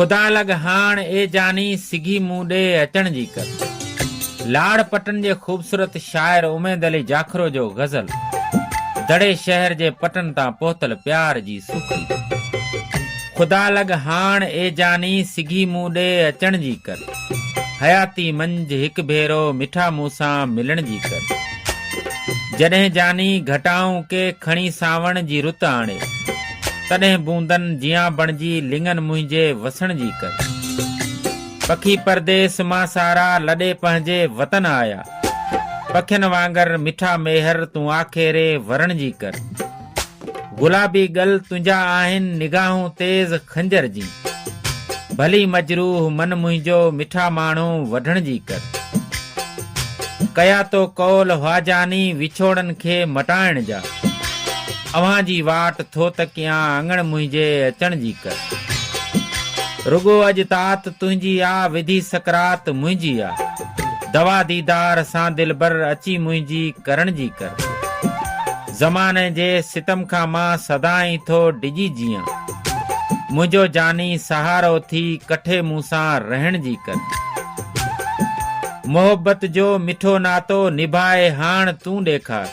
خدا لڳ هاڻ اي جاني سگهي مون ڏي اچڻ جي ڪر. لاڙ پٽن جي خوبصورت شاعر اميد علي جاکرو جو غزل دڙي شهر جي پٽن تان پهتل پيار جي سوکڙي خدا لڳ هاڻ اي جاني سگهي مون ڏي اچڻ جي ڪر حياتي منجهه هڪ ڀيرو مٺا مون سان ملڻ جي ڪر جڏهن جاني گهٽائون ڪي کڻي سانوڻ جي رت آڻي. تڏهن بوندن جيان بڻجي لڱن منهنجي وسڻ جي ڪر. پکي پرديس مان سارا لڏي پنهنجي وطن آيا. پکين وانگر مٺا ميهر تون آکيري ورڻ جي ڪر. گلابي ڳل تنهنجا آهن نگاهون تيز خنجر جين. ڀلي مجروح من منهنجو مٺا ماڻهو وڍڻ جي ڪر. ڪيا تو قول حواجاني وڇوڙن کي مٽائڻ جا. اوهان جي واٽ ٿو تڪيان اڱڻ منهنجي اچڻ جي ڪر رڳو اڄ تات تنهنجي آ وڌي سڪرات منهنجي آ دوا ديدار سان دلبر اچي منهنجي ڪرڻ جي ڪر زماني جي ستم کان مان سدائين ٿو ڊڄي جيان منهنجو جاني سهارو ٿي ڪٺي مون سان رهڻ جي ڪر محبت جو مٺو ناتو نڀائي هاڻ تون ڏيکار.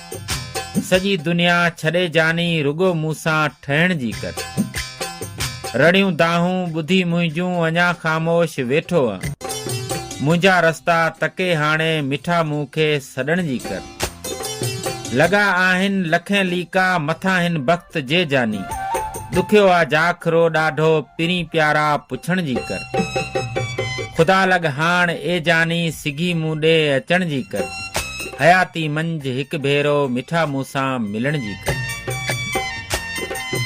سڄي دنيا ڇڏي جاني رڳو مون سان ٺهڻ جي ڪر. رڙيون دانهون ٻڌي منهنجون اڃا خاموش ويٺو انء منهنجا رستا تڪي هاڻي مٺا مون کي سڏڻ جي ڪر. لڳا آهن لکين ليڪا مٿان هن بخت جي جاني ڏکيو آ جاکرو ڏاڍو پرين پيارا پڇڻ جي ڪر. خدا لڳ هاڻ اي جاني سگهي مون ڏي اچڻ جي ڪر. حياتي منجهه هڪ ڀيرو مٺا مون سان ملڻ جي ڪر.